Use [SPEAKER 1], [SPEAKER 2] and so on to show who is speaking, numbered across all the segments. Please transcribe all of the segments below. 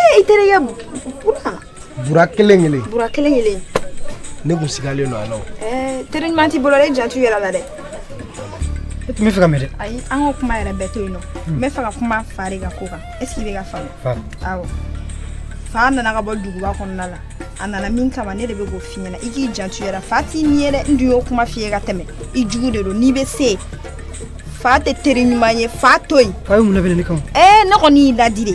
[SPEAKER 1] ee i
[SPEAKER 2] terikɛ bura bura
[SPEAKER 1] kelen kelen bura
[SPEAKER 2] kelen kelen ne
[SPEAKER 1] kun sigalen don a la o teri ɲuman
[SPEAKER 2] t'i bolo dɛ i jantu yɛrɛ la dɛ e
[SPEAKER 1] tun bɛ fɛ ka mɛ dɛ ayi an k'o kuma yɛrɛ
[SPEAKER 2] bɛɛ to yen nɔ n bɛ fɛ ka kuma fa de ka ko kan est ce que i bɛ k'a faamu awɔ fa nana ka bɔ duguba kɔnɔna la a nana min kama ne de bɛ k'o f'i ɲɛna i k'i jantu yɛrɛ la fa t'i ɲin ye dɛ n dun y'o kuma f'i ye ka tɛmɛ i jugu de don n'i bɛ se fa tɛ teri ɲuman ye fa to yen fa ye mun labɛn ne kama
[SPEAKER 1] ɛɛ ne kɔni y'i laadi
[SPEAKER 2] dɛ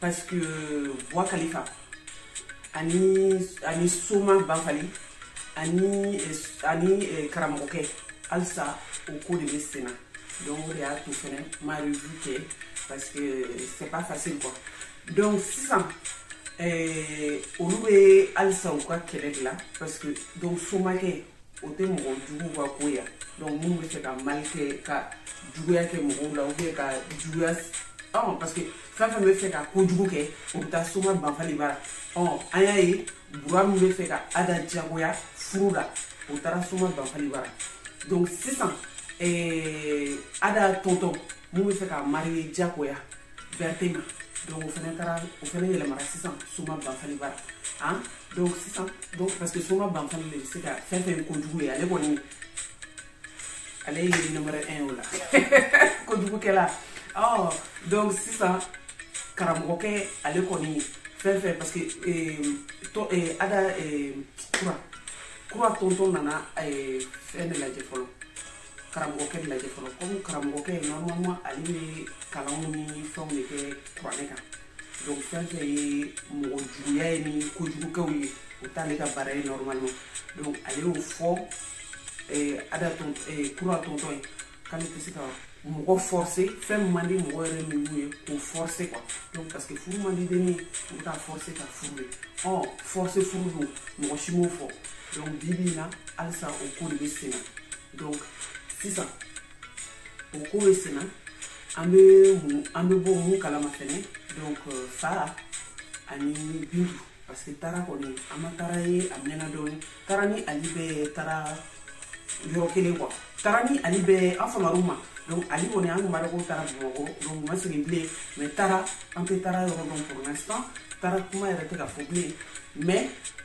[SPEAKER 3] parce que Bwa Kalifa ani ani Soma Banfali ani eh, ani eh, karamɔgɔkɛ halisa o ko de bɛ sen na donc o de y'a to fɛnɛ ma revue kɛ parce que eh, c'est pas facile quoi donc sisan olu bɛ halisa u ka kɛlɛ de la parce que donc Somakɛ o tɛ mɔgɔ juguw ka ko ya donc minnu bɛ fɛ ka mal kɛ ka juguya kɛ mɔgɔw la ou bien ka juguya ɔn parce que fɛn fɛn bɛ fɛ ka kojugu kɛ o bɛ taa soma banfali bara ɔn an y'a ye bura min bɛ fɛ ka ada jagoya furu la o taara soma banfali bara donc sisan eh, ada tɔntɔn mun bɛ fɛ ka mariye jagoya bɛrɛte ma donc o fana taara o fana yɛlɛmara sisan soma banfali bara an ah, donc sisan donc parce que soma banfali de bɛ se ka fɛn fɛn kojugu ye ale kɔni ale ye numéro 1 o la kojugukɛla ɔ donc sisan karamɔgɔkɛ ale kɔni fɛn fɛn parce que eh, tɔ eh, ada eh, kura kura tɔntɔn nana fɛn de lajɛ fɔlɔ karamɔgɔkɛ lajɛ fɔlɔ komi karamɔgɔkɛ normalement ale bɛ kalanw ni fɛnw de kɛ kuranɛ kan donc fɛn fɛn ye mɔgɔ juguya ye ni kojugukɛw ye o t'ale ka baara ye normalement donc ale y'o fɔ eh, ada ton eh, kura tɔntɔn ye k'ale tɛ se ka mɔgɔ forcé fɛn min man di mɔgɔ yɛrɛ ninnu ye k'o forcé quoi donc parce que furu man di denni u bɛ k'a forcé ka furu ye ɔ forcé furu don mɔgɔ si m'o fɔ donc bi bi in na halisa o ko de bɛ sen na donc sisan o ko bɛ sen na an bɛ mun an bɛ bɔ mun kalama fɛnɛ donc euh, fa ani bintu parce que taara kɔni an ma taara ye a mɛnna dɔɔni taara ni ali bɛɛ taara yɔrɔ kelen quoi taara ni ali bɛɛ an famara u ma donc ali kɔni an tun b'a dɔn k'o taara bamakɔ donc ma segin bilen mais taara an tɛ taara yɔrɔ dɔn pour l'instant taara kuma yɛrɛ tɛ ka fɔ bilen mais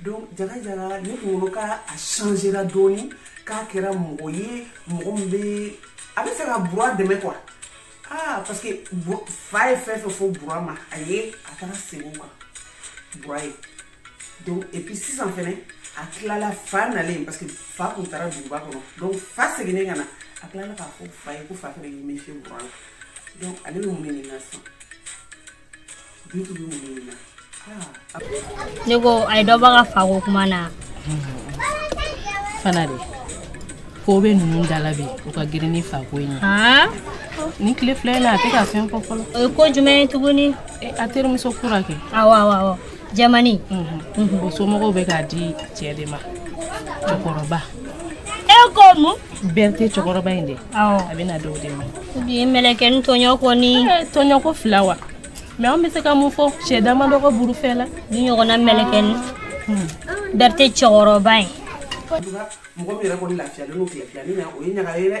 [SPEAKER 3] donc jaga jaga ne kunkolo ka a changera dɔɔni k'a kɛra mɔgɔ ye mɔgɔ min bɛ a bɛ fɛ ka bura dɛmɛ quoi ah parce que fa ye fɛn fɛn fɔ bura ma a ye a taara segin o kan bura ye donc et puis sisan fɛnɛ a tilala fa nalen parce que fa tun taara duguba kɔnɔ donc fa seginnen ka na a tilala k'a fɔ fa ye ko fa fɛnɛ y'i méfier bura la donc ale bɛ mun de ɲininka sisan
[SPEAKER 4] ne ko a ye dɔ bɔ ka fako kuma na fana
[SPEAKER 5] dɛ ko bɛ ninnu da la bi o ka girin ni fako in ye nin tile fila in na a tɛ ka fɛn fɔ fɔlɔ o ye ko jumɛn ye tuguni
[SPEAKER 4] a terimuso
[SPEAKER 5] kura kɛ awɔ awɔ awɔ
[SPEAKER 4] jamani
[SPEAKER 5] o somɔgɔw bɛ k'a di cɛ de ma cɛkɔrɔba
[SPEAKER 4] e ko mun bɛrite cɛkɔrɔba
[SPEAKER 5] in de a bɛna d'o de
[SPEAKER 4] ma
[SPEAKER 5] bi mɛlɛkɛni
[SPEAKER 4] tɔɲɔ kɔni eh, tɔɲɔ ko fila
[SPEAKER 5] wa mais an bɛ se ka mun fɔ cɛ dama dɔgɔ burufɛ la ni
[SPEAKER 4] ɲɔgɔnna mɛlɛkɛni
[SPEAKER 5] hmm. bɛrite
[SPEAKER 4] cɛkɔrɔba ye mɔgɔ
[SPEAKER 3] min yɛrɛ kɔni lafiyalen don tile fila nin na o ye ɲaga ye dɛ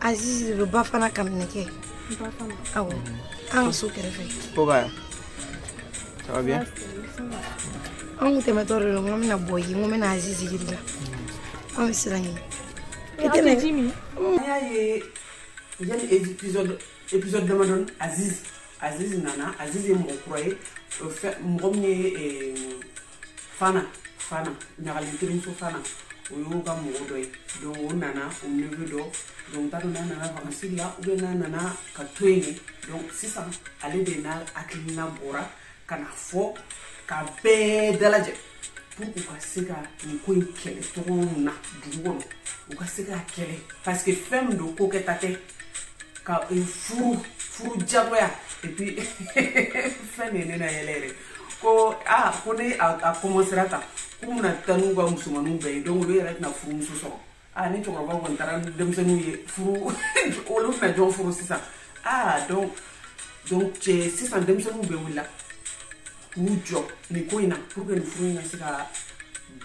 [SPEAKER 2] azizi de bɛ ba fana kamina kɛ awɔ an ka so kɛrɛfɛ
[SPEAKER 6] an kun
[SPEAKER 2] tɛmɛtɔ de don n ko n bɛna bɔ yen n ko n bɛna azizi yir'i la an bɛ siran yen i tɛ na
[SPEAKER 3] ji min an y'a ye yanni épisode épisode damadɔni azizi azizi nana azizi ye mɔgɔ kura ye mɔgɔ min ye fana fana ɲagalen terimuso fana o y'o ka mɔgɔ dɔ ye donc o nana o neveu dɔ donc n t'a dɔn n'a nana vakansi la ou bien n'a nana ka to yen de donc sisan ale de n'a hakilina bɔra ka na fɔ ka bɛɛ dalajɛ pour u ka se ka nin ko in kɛlɛ cogo min na dugu kɔnɔ u ka se k'a kɛlɛ parce que fɛn min don ko kɛta tɛ ka furu furu jagoya et puis fɛn de ye ne nayɛlɛ yɛrɛ ko aa ko ne a commencera tan k'u bɛna taa n'u ka musomaninw bɛɛ ye donc olu yɛrɛ tɛna furumuso sɔrɔ aa ni cɛkɔrɔbaw kɔni taara ni denmisɛnninw ye furu olu bɛna jɔn furu sisan aa donc donc cɛ sisan denmisɛnninw bɛɛ wulila k'u jɔ nin ko in na pour que nin furu in ka se ka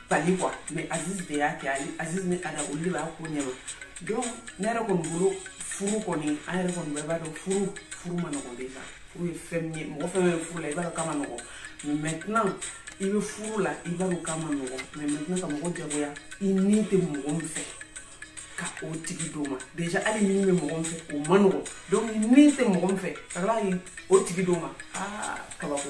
[SPEAKER 3] bali quoi mais aziz de y'a kɛ ale aziz ni ada olu de b'a ko ɲɛma donc ne yɛrɛ kɔni bolo furu kɔni an yɛrɛ kɔni bɛɛ b'a dɔn furu furu man nɔgɔn déjà furu ye fɛn min ye mɔgɔ fɛn bɛ furu la i b'a dɔn k'a man nɔgɔ mais maintenant i bɛ furu la i b'a dɔn k'a man nɔgɔ mais maintenant ka mɔgɔ jagoya i ni tɛ mɔgɔ min fɛ ka o tigi d'o ma déjà hali n'i bɛ mɔgɔ min fɛ o man nɔgɔ donc i ni tɛ mɔgɔ min fɛ ka tila k'i o tigi d'o ma aa kabako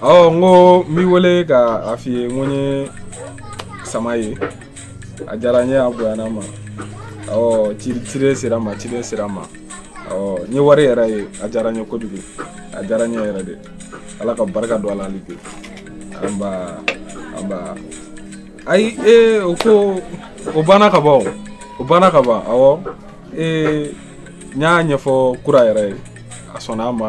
[SPEAKER 6] ɔ n ko n b'i wele ka a f'i ye n ko n ye sama ye a diyara n ye a bonyana n ma ɔ ci cire sera n ma ciden sera n ma ɔ n ye wari yɛrɛ ye a diyara n ye kojugu a diyara n ye yɛrɛ dɛ ala ka barika don a la hali bi anba anba ayi ee o ko o banna ka ban o o banna ka ban awɔ ee n y'a ɲɛfɔ kura yɛrɛ ye a sɔnna a ma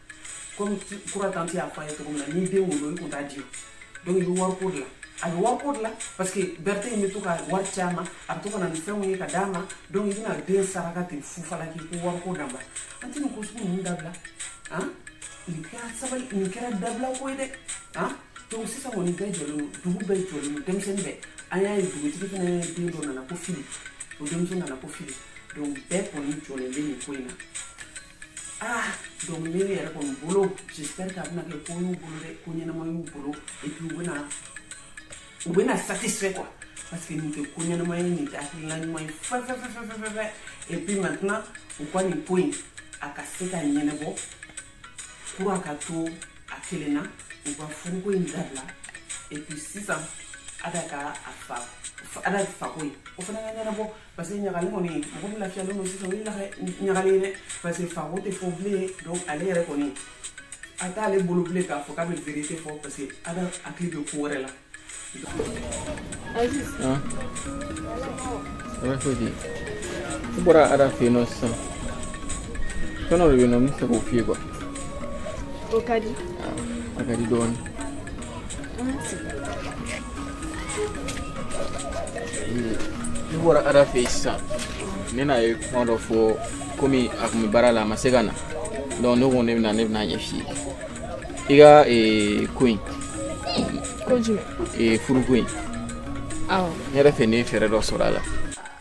[SPEAKER 3] komi kura tanti y'a fɔ a ye cogo min na n'i den wolo i kun t'a di donc i bɛ wariko de la a bɛ wariko de la parce que berthé in bɛ to ka wari ci a ma a bɛ to ka na ni fɛnw ye ka d'a ma donc i bɛna den saraka ten fu falaki ko wariko dabila an tɛ nin ko sugu ninnu dabila han nin kɛra sabali nin kɛra dabila ko ye dɛ han donc sisan kɔni bɛɛ jɔlen don dugu bɛɛ jɔlen don denmisɛnnin bɛɛ an y'a ye dugutigi fana den dɔ nana ko fili o denmuso nana ko fili donc bɛɛ kɔni jɔlen bɛ nin ko in na ah donc ne yɛrɛ kɔni bolo j'espère que a bɛna kɛ ko y'u bolo dɛ ko ɲɛnama y'u bolo et puis u bɛna u bɛna satisfait quoi parce que nin tɛ ko ɲɛnama ye nin tɛ hakilina ɲuman ye fɛfɛfɛfɛfɛfɛ et puis maintenant u ka nin ko in a ka se ka ɲɛnɛbɔ kura ka to a kelen na u ka furuko in dabila et puis sisan ada ka a fa ada fako in o fana ka ɲɛnɛbɔ parce que ɲagalen kɔni mɔgɔ min lafiyalen don sisan o ye ɲagalen ye dɛ parce que fako tɛ fɔ bilen donc ale yɛrɛ kɔni a t'ale bolo bilen k'a fɔ k'a bɛ vérité fɔ parce que Ada hakili bɛ ko wɛrɛ la.
[SPEAKER 6] Aziz. Ah. Ala foyi tɛ yen. N bɔra Ada fɛ yen nɔ
[SPEAKER 7] sisan. Fɛn dɔ de bɛ yen nɔ n bɛ fɛ k'o f'i ye quoi. O
[SPEAKER 2] ka di. A ka di
[SPEAKER 7] dɔɔnin. ne bɔra ada fɛ yen sisan ne n'a ye kuma dɔ fɔ komi a tun bɛ baara la a ma se ka na donc ne ko ne bɛna ne bɛna ɲɛf'i ye i ka eh, ko in
[SPEAKER 2] ko jumɛn eh, furuko in
[SPEAKER 7] awɔ ne yɛrɛ fɛ ne ye fɛɛrɛ dɔ sɔrɔ a la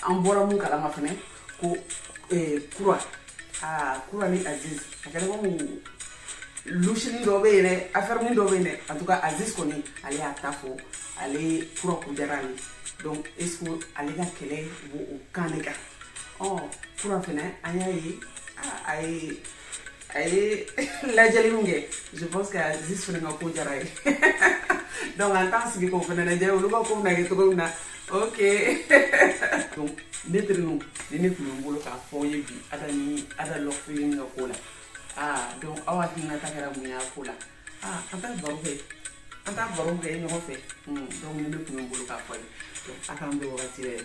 [SPEAKER 7] an bɔra mun
[SPEAKER 3] kalama fɛnɛ ko kura aa kura ni aziz a kɛra komi lusini dɔ bɛ yen dɛ afɛrinin dɔ bɛ yen dɛ en tout cas aziz kɔni ale y'a ta fɔ ale kura ko diyara ale donc est ce que ale ka kɛlɛ b'o o kan de kan ɔ kura fɛnɛ an y'a ye a ye a ye lajɛli min kɛ je pense que aziz fana ka ko diyara a ye donc an t'an sigi k'o fana lajɛ olu ka ko bɛna kɛ cogo min na ok donc ne terinu nin de tun bɛ n bolo k'a f'aw ye bi ada ni ada love film ka ko la aa donc aw hakilinata kɛra mun y'a ko la aa an t'a baro kɛ an t'a baro kɛ ɲɔgɔn fɛ donc nin de tun bɛ n bolo k'a f'aw ye donc a k'an bɛn wagati wɛrɛ